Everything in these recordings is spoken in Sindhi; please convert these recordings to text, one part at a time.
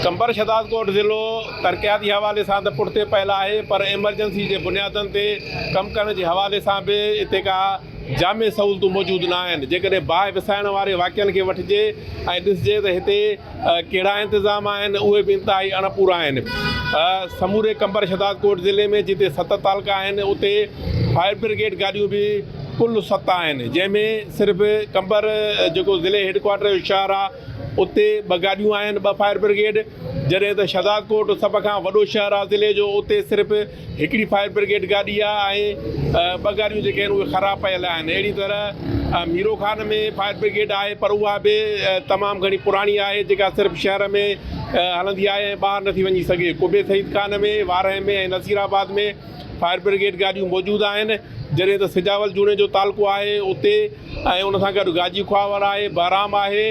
قمبر شھدادڪوٽ ضلعو ترقياتي حوالي سان ته پٺتي پيل آهي پر ايمرجنسي جي بنيادن تي ڪم ڪرڻ جي حوالي سان به اتي ڪا جامع سهولتون موجود نه آهن جيڪڏهن باهه وسائڻ واري واقعن کي وٺجي ۽ ڏسجي ته هتي ڪهڙا انتظام آهن اهي به انتهائي اڻ پورا آهن سموري قمبر شھدادڪوٽ ضلعي ۾ جتي ست تعلقا آهن اتي فائر برگيڊ گاڏيون به ڪل ست آهن جنهن ۾ صرف قمبر جيڪو ضلعي هيڊ ڪوارٽر جو شهر آهي اتي ٻه گاڏيون آهن، ٻه فائر برگيڊ، جڏهن ته شهدادڪوٽ سڀ کان وڏو شهر آهي ضلعي جو، اتي صرف هڪڙي فائر برگيڊ گاڏي آهي ۽ ٻه گاڏيون جيڪي آهن اهي خراب پيل آهن. اهڙي طرح ميرو خان ۾ فائر برگيڊ آهي پر اها به تمام گهڻي پراڻي آهي جيڪا صرف شهر ۾ هلندي آهي ۽ ٻاهر نٿي وڃي سگهي. قبي Syed Khan ۾ Warah ۾ ۽ Naseerabad ۾ fire brigade گاڏيون موجود آهن، جڏهن ته سجاول جوڻيجو تعلقو آهي اتي ۽ ان سان گڏ گاجي خواهور آهي، بهرام آهي،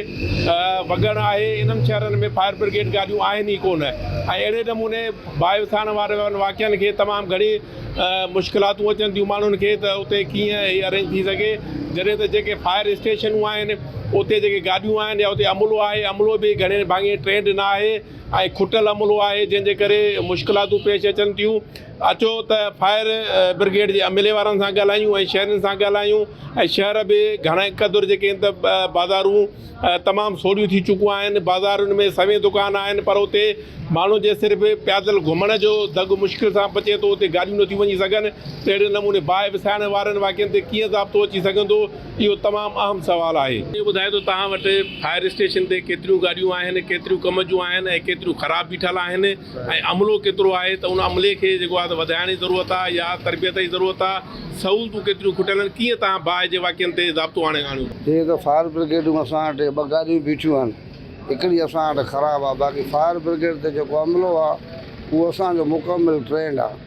وڳڻ آهي، انهن شهرن ۾ فائر برگيڊ گاڏيون آهن ئي ڪونه ۽ اهڙي نموني باهه وسائڻ وارن واقعن کي تمام گهڻي مشڪلاتون اچن ٿيون ماڻهن کي ته اتي ڪيئن هي ارينج ٿي سگهي، جڏهن ته جيڪي فائر اسٽيشنون آهن، اتي جيڪي گاڏيون آهن يا اتي عملو آهي، عملو به گهڻي ڀاڱي ٽرينڊ نه آهي. ۽ کٽيل عملو آهي جنهن جي ڪري مشڪلاتون پيش اچن ٿيون اچو ته فائر برگيڊ جي عملي وارن سان ڳالهايون ۽ شهرين سان ڳالهايون ۽ شهر به گهڻي قدر جيڪي آهن ته بازارون تمام سوڙهيون ٿي چڪيون آهن بازارن ۾ سوين دڪان آهن پر اتي ماڻهو جي صرف پيادل گهمڻ جو دڳ مشڪل سان بچي ٿو اتي گاڏيون نٿيون وڃي سگهن ته اهڙي نموني باهه وسائڻ وارن واقعن تي ڪيئن ضابطو اچي سگهندو اهو تمام اهم سوال آهي. اهو ٻڌايو ته توهان وٽ فائر اسٽيشن تي ڪيتريون گاڏيون آهن، ڪيتريون ڪم جون آهن ۽ ڪيتريون خراب بيٺل آهن ۽ عملو ڪيترو آهي ته ان عملي کي جيڪو آهي ته وڌائڻ جي ضرورت آهي يا تربيت جي ضرورت آهي، سهولتون ڪيتريون کٽيل آهن، ڪيئن توهان باهه جي واقعن تي ضابطو آڻي آڻيو ٿا. جيئن ته فائر برگيڊ ۾ اسان وٽ ٻه گاڏيون بيٺيون آهن، هڪڙي اسان وٽ خراب آهي باقي فائر برگيڊ تي جيڪو عملو آهي اهو اسان جو مڪمل ٽرينڊ آهي.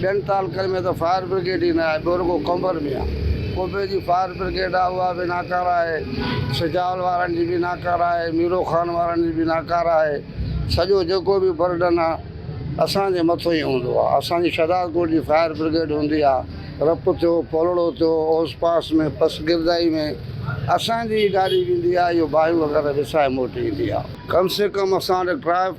ٻين تعلقن ۾ ته فائر برگيڊ ئي نه آهي، ٻيو رڳو قمبر ۾ آهي. قمبي جي فائر برگيڊ آهي، اها به ناڪاره آهي. سجاول وارن جي به ناڪاره آهي، ميرو خان وارن جي به ناڪاره آهي. سڄو جيڪو به برڊن آهي، اسان جي مٿو ئي هوندو آهي. اسان جي شهدادڪوٽ جي فائر برگيڊ هوندي آهي، رپ ٿيو، پولڙو ٿيو، اوس پاس ۾ پس گردائي ۾ اسان جي ئي گاڏي ويندي آهي، اهو باهيون وغيره وسائي موٽي ايندي آهي. ڪم سي ڪم اسان وٽ ٽرائي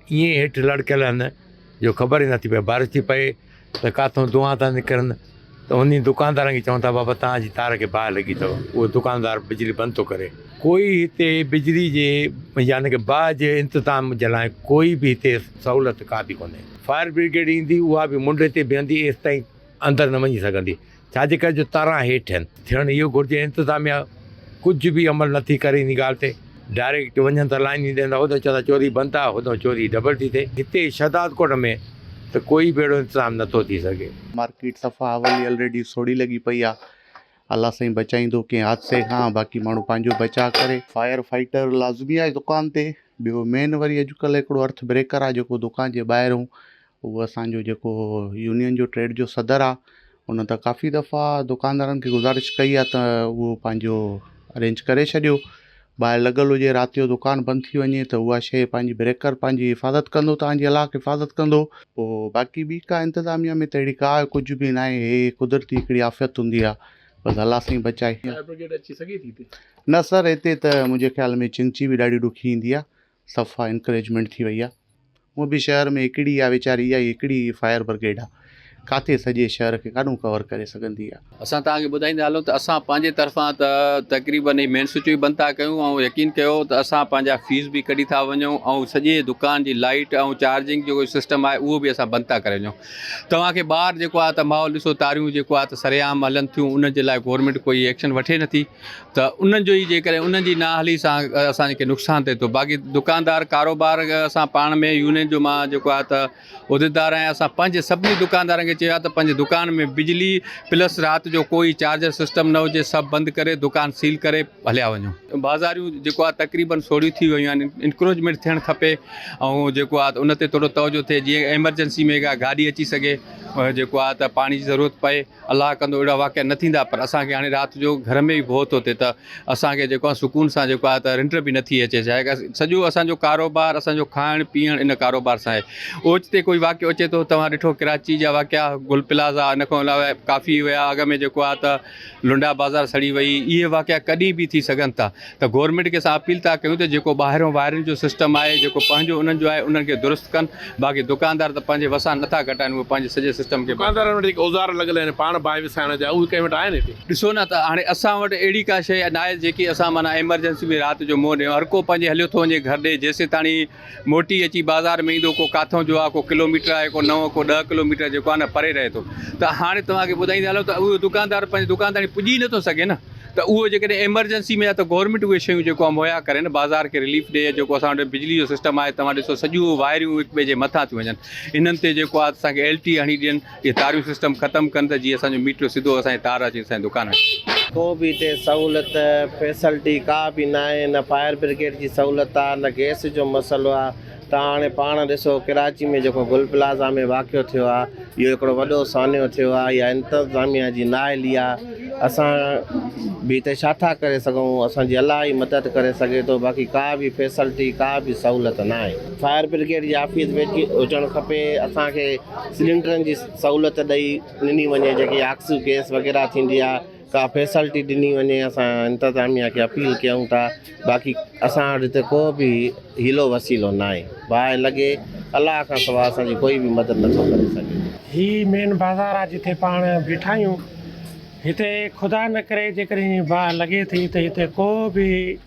ائين هيٺ لڙڪيل هن جو خبر ئي نه ٿي پئي، بارش ٿي پئي ته ڪاٿئون دونهان ٿا نڪرن ته انهي دڪاندارن کي چون ٿا بابا توهان جي تار کي باهه لڳي اٿو، اهو دڪاندار بجلي بند ٿو ڪري. ڪوئي هتي بجلي جي يعني ڪه باهه جي انتظام جي لاء ڪوئي به هتي سهولت ڪا به ڪونهي. فائر برگيڊ ايندي اها به منڍي تي بيهندي ايستائين اندر نه وڃي سگهندي ڇا جي ڪري جو تاران هيٺ آهن. ٿيڻ اهو گهرجي انتظاميا ڪجهه به عمل نٿي ڪري ان ڳالهه تي ڊائريڪٽ وڃن ته لائين ئي ڏين ٿا هوڏنهن چون ٿا چوري بند آهي هوڏنهن چوري ڊبل ٿي ٿئي هتي شهدادڪوٽ ۾ ته ڪوئي به اهڙو انتظام نٿو ٿي سگهي. مارڪيٽ صفا اولي الريڊي سوڙهي لڳي پئي آ الله سائين بچائيندو ڪنهن حادثي کان باقي ماڻهو پنهنجو بچاء ڪري. فائر فائٽر لازمي آهي دڪان تي ٻيو مين وري اڄڪلهه هڪڙو ارٿ بريڪر آ جيڪو دڪان جي ٻاهرون هو اسان جو جيڪو يونين جو ٽريڊ جو صدر آ ان ته ڪافي دفعا دڪاندارن کي گذارش ڪئي آ ته اهو پنهنجو ارينج ڪري ڇڏيو ٻاهر لڳل هجي رات جو دڪان بند ٿي وڃي ته اها شيء پنهنجي بريڪر پنهنجي حفاظت ڪندو توهان جي الاهڪ حفاظت ڪندو پوء باقي ٻي ڪا انتظاميه ۾ ته اهڙي ڪا ڪجهه به ناهي هي قدرتي هڪڙي آفيت هوندي آ بس الله سائين بچائي. فائر برگيڊ اچي سگهي ٿي هتي؟ نه سر هتي ته منهنجي خيال ۾ چنگچي به ڏاڍي ڏکي ايندي آ صفا انڪريجمينٽ ٿي وئي آ هونء به شهر ۾ هڪڙي آ ويچاري اها ئي هڪڙي فائر برگيڊ آ ڪاٿي سڄي شهر کي ڪاڏهون ڪور ڪري سگهندي آ. اسان توهان کي ٻڌائيندا هلون ته اسان پنهنجي طرفان ته تقريبن هي مين سوئچ به بند ٿا ڪيون ۽ يقين ڪيو ته اسان پنهنجا فيوز به ڪڍي ٿا وڃون ۽ سڄي دڪان جي لائيٽ ۽ چارجنگ جيڪو سسٽم آهي اهو به اسان بند ٿا ڪري وڃون توهان کي ٻاهر جيڪو آ ته ماحول ڏسو تاريون جيڪو آ ته سرعام هلن ٿيون ان جي لاء گورمينٽ ڪوئي ايڪشن وٺي نٿي. ته ان جو ئي جيڪڏهن ان جي نااهلي سان اسان جي ڪي نقصان ٿئي ٿو باقي دڪاندار ڪاروبار اسان پاڻ ۾ يونين جو مان جيڪو آهي ته عهديدار آهيان اسان پنهنجي سڀني دڪاندارن کي چيو آهي ته پنهنجي دڪان ۾ بجلي پلس رات جو ڪوئي چارجر سسٽم نه هجي سڀ بند ڪري دڪان سيل ڪري هليا وڃو بازاريون جيڪو آهي تقريبن سوڙهيون ٿي ويون آهن انڪروچمينٽ ٿيڻ کپي ۽ جيڪو آهي ته ان تي ٿورو توجهه ٿئي جيئن ايمرجنسي ۾ ڪا گاڏي اچي سگهي جيڪو آهي ته پاڻي جي ضرورت پئي الله ڪندو اهڙا واقعا نه ٿيندا پر اسان کي هاڻي رات جو گهر ۾ به ڀوء ٿو ٿئي ته اسان کي جيڪو آهي سڪون سان جيڪو آهي ته رنڊ به نٿي اچي ڇا ڪري سڄو اسانجو ڪاروبار اسانجو کائڻ پيئڻ ان ڪاروبار سان آهي اوچتي ڪوئي واقعو اچي ٿو توهان ڏٺو ڪراچي جا واقعا گل پلازا ان کان علاوه ڪافي هيا اڳ ۾ جيڪو آهي ته لنڊا بازار سڙي وئي اهي واقعا ڪڏهن به ٿي سگهن ٿا ته گورنمينٽ کي اسان اپيل ٿا ڪيون ته جيڪو ٻاهريون وائرن جو سسٽم آهي جيڪو پنهنجو انهن جو آهي انهن کي درست ڪن باقي دڪاندار ته پنهنجي وسان نٿا گهٽائين اهي پنهنجي سڄي سسٽم کي دڪاندارن وٽ جيڪي اوزار لڳل آهن پاڻ باهه وسائڻ جا اهي ڪنهن وٽ آهن هتي. ڏسو نه ته هاڻي اسان وٽ اهڙي ڪا شيء ناهي جيڪي اسان معنيٰ ايمرجنسي ۾ رات جو منهن ڏيون هر ڪو پنهنجي هليو ٿو وڃي گهر ڏي جيسيتاڻي موٽي اچي بازار ۾ ايندو ڪو ڪاٿو جو آ ڪو ڪلو ميٽر آهي ڪو نو ڪو ڏهه ڪلو ميٽر جيڪو آهي نه پري رهي ٿو ته هاڻي توهان کي ٻڌائيندا هلون ته اهو دڪاندار پنهنجي دڪان تائين پڄي نٿو سگهي نه ته اهو جيڪڏهن ايمرجنسي ۾ آهي ته گورنمينٽ اهي شيون جيڪو آهي مهيا ڪري نه بازار کي رليف ڏئي جيڪو اسان وٽ بجلي جو سسٽم آهي توهان ڏسو سڄو وائريون هڪ ٻئي جي مٿان ٿيون وڃن انهن تي جيڪو آهي اسان کي ايل ٽي هڻي ڏين جي تاريون سسٽم ختم ڪن ته جي اسان جو ميٽر سڌو اسان جي تار اچي اسان جي دڪان ۾. ڪو به هتي سهولت فيسلٽي ڪا به ناهي نه فائر برگيڊ جي سهولت آ نه گيس جو مسئلو آ توهان هاڻي پاڻ ڏسو ڪراچي ۾ جيڪو گل پلازا ۾ واقعو ٿيو آ اهو هڪڙو وڏو سانحو ٿيو آ اها انتظاميه جي نااهلي آ اسان به هتي ڇا ٿا ڪري سگهون اسان جي الله ئي مدد ڪري سگهي ٿو باقي ڪا به فيسلٽي ڪا به سهولت ناهي فائر برگيڊ جي آفيس به هجڻ کپي اسان کي سلينڊرن جي سهولت ڏئي ڏني وڃي جيڪي آڪسيو گيس وغيره ٿيندي آ ڪا فيسلٽي ڏني وڃي اسان انتظاميا کي اپيل ڪيون ٿا باقي اسان وٽ هتي ڪو به حيلو وسيلو نه آهي باهه لڳي الله کان سوا اسان جي ڪوئي به مدد نه ٿو ڪري سگهي هي مين بازار آ جتي پاڻ بيٺا آهيون هتي خدا نه ڪري جيڪڏهن باهه لڳي ٿي ته هتي ڪو به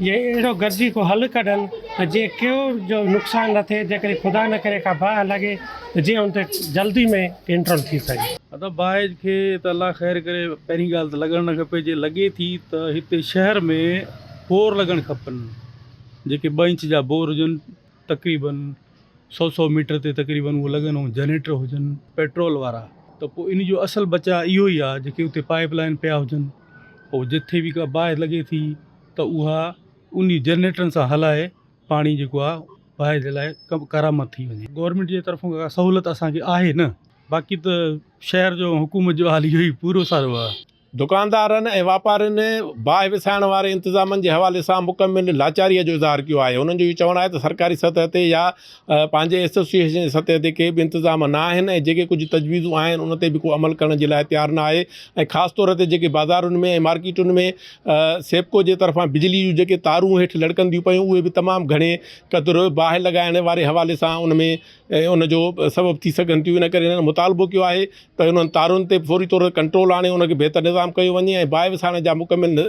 جي اهڙو گڏجي ڪو حل ڪڍن ته جيئن ڪيو جو نقصان نه ٿئي جيڪڏهن خدا نه ڪري ڪا باهه لڳي ته جيئن ان تي جلدي ۾ ڪنٽرول ٿي سگهي. ادب باهه کي ته الله خير ڪري پهرين ڳالهه ته لڳڻ نه کپي جي لڳي ٿي ته هتي شهر ۾ بور لڳڻ کپن جيڪي ٻه انچ جا بور هجن. تقريباً سؤ سؤ ميٽر تي تقريباً اهو لڳن ۽ جنريٽر هجن پيٽرول وارا ته پوء ان جو اصل بچاء اهو ئي آهي جيڪي اتي پائيپ لائين پيا هجن پوء جتي به ڪا باهه لڳي ٿي ته اها انهي جنريٽرن سان هلائي پاڻي جيڪو آهي باهه جي لاء ڪرامت ٿي وڃي. گورنمينٽ جي طرفون ڪا سهولت اسان کي آهي نه باقي ته شهر جو حڪومت جو حال اهو ئي پورو سارو آهي. دڪاندارن ۽ واپارين باهه وسائڻ واري انتظامن جي حوالي سان مڪمل لاچاريء جو اظهار ڪيو آهي، انهن جو اهو چوڻ آهي ته سرڪاري سطح تي يا پنهنجي ايسوسيئيشن جي سطح تي ڪي به انتظام نه آهن ۽ جيڪي ڪجهه تجويزون آهن ان تي به ڪو عمل ڪرڻ جي لاء تيار نه آهي ۽ خاص طور تي جيڪي بازارن ۾ ۽ مارڪيٽن ۾ سيپڪو جي طرفان بجلي جون جيڪي تارون هيٺ لڙڪنديون پيون اهي به تمام گهڻي قدر باهه لڳائڻ واري حوالي سان ان ۾ ۽ ان جو سبب ٿي سگهن ٿيون ان ڪري هنن مطالبو ڪيو آهي ته انهن تارن تي فوري طور تي ڪنٽرول آڻي ان کي بهتر نظام ڪيو وڃي ۽ باهه وسائڻ جا مڪمل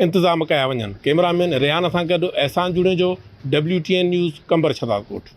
انتظام ڪيا وڃن ڪئميرا مين ريان سان گڏ Ahsan Junejo W T N news Qambar Shahdadkot.